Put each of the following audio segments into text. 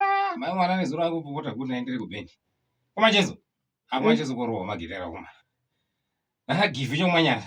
Ah, mai mwana nezuro angu popota kuti naendere kubhendi. Koma Chezo. Amwa Chezo korowa magidera kuma. Aha give yo manyana.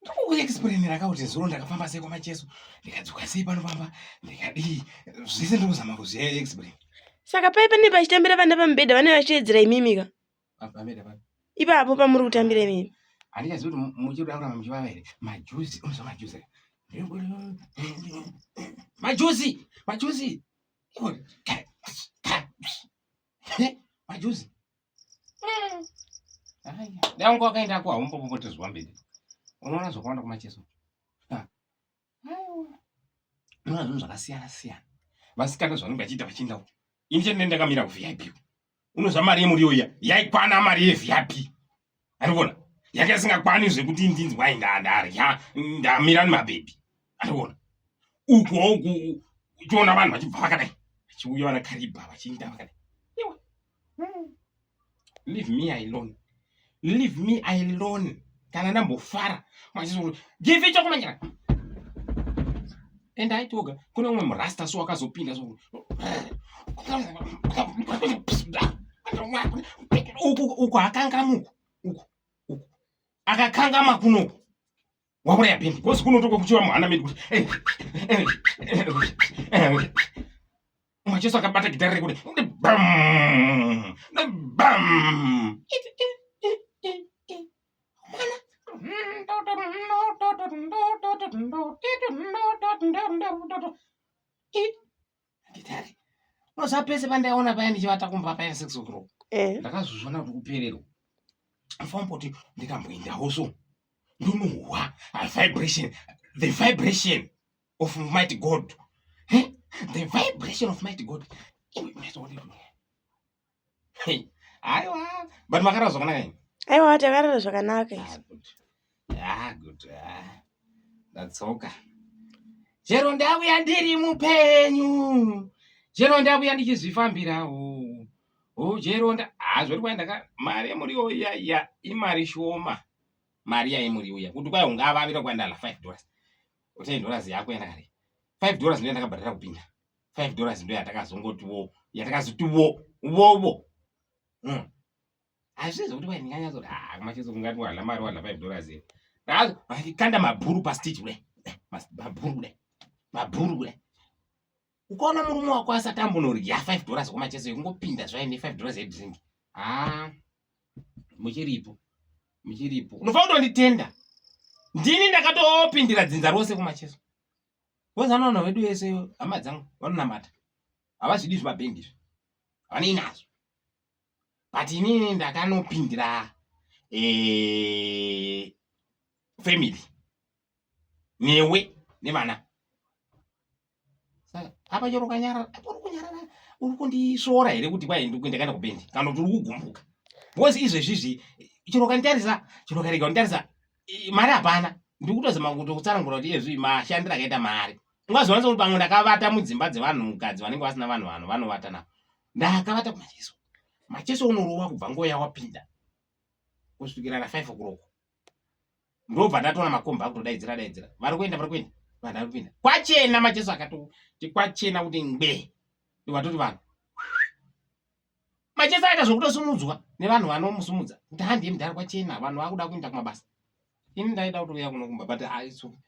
ndikukuexplainira ka kuti zuro ndakafamba sei kwamacheso ndikadzoka sei panofamba ndikadii zvese ndikuzama kuzviexplain saka pai pane pachitambira vana pamubhedha vane vachiedzera imimika ipapo pamuri kutambira imimi handichazivi kuti muchikuda kuramba muchivava here majuzi unoziva majuzi majuzi majuzi majuzi dai unge wakaenda ko haumbopopotezwa mberi unoona zvakawanda kumacheso unoona zvinhu zvakasiyana siyana vasikana zvanenge vachiita vachienda uku ini chete ndakamira kuvip unozva mari yemuriyo iya yaikwana mari yevip arikuona yake asingakwane zvekuti ndinzi wai ndarya ndamira nemabhebhi arikuona uku uku uchiona vanhu vachibva vakadai vachiuya vana karibha vachiinda vakadai hmm. leave me alone leave me alone kana ndambofara machizoti give chokumanyira and aiti oga kune umwe murasta so wakazopinda so uku uku akangamuku uku uku akakangama kunoku wauraya bheni because kunotoka kuchiva muhana medu kuti Mwa Jesu akabata gitare rekuti ndi bam ndi bam gitare unoziva pese pandaiona paya ndichivata kumba paya six o'clock eh. ndakazozvona kuti kupererwa ndifamboti ndikamboendawo so ndonohwa vibration the vibration of mighty God. Eh? The vibration of mighty God. Hey, aiwa. But makarara zvakanaka ini. Aiwa takarara zvakanaka ah, isu. Ah, good. Ah. That's okay. Chero ndauya ndiri mupenyu. Chero ndauya ndichizvifambirawo. Oh, chero nda ah zvori kwai ndaka mari yemuriwo iya iya imari shoma. Mari yaimuriwo iya. Kuti kwai ungavavira kwandala 5 dollars. Utai dollars yako yandakare. 5 dollars ndiyo ndakabhadhara kupinda. 5 dollars ndiyo yatakazongoti wo, yatakazoti wo, wo wo. Mm. Hazvizi kuti wai ndinganya zoti ah kumachezo kungati wala mari wala 5 dollars here. Ndazo kanda mabhuru pa stage kule. Mabhuru kule. Mabhuru kule. ukaona murume wako asati ambonorya 5 dollars kwamacheso yekungopinda zvaye ne 5 dollars yedrink haa muchiripo muchiripo unofanira kutonditenda ndini ndakatopindira dzinza rose kumacheso kozi anoona vedu vese hama dzangu vanonamata havazvidi zvimabhendi izvi havanei nazvo but inini ndakanopindira eh, family newe nevana apa chero ukanyarara apa uri kunyarara uri kundisvora here kuti kwai ndikuenda kana kubendi kana kuti uri kugumbuka bcause izvezvizvi chero ukanditarisa chero ukarega kunditarisa mari hapana ndiri kutozama kuti kutsanangura kuti iyezvi mashandiro akaita mari ungazowanisa kuti pamwe ndakavata mudzimba dzevanhu mukadzi vanenge vasina vanhu vanhu vanovata navo ndakavata kumacheso macheso unorova kubva ngoya wapinda kusvikira na five o'clock ndobva ndatoona makomba akutodaidzira daidzira vari kuenda vari kuenda vanhu vari kuenda kwachena majesu akatoti kwachena kuti ngbe ndivatoti vanhu majesu aita zvokutosimudzwa nevanhu vanomusumudza kuti handiye mudhara kwachena vanhu vakuda kuenda kumabasa ini ndaida kutouya kunokumba but aisu ah,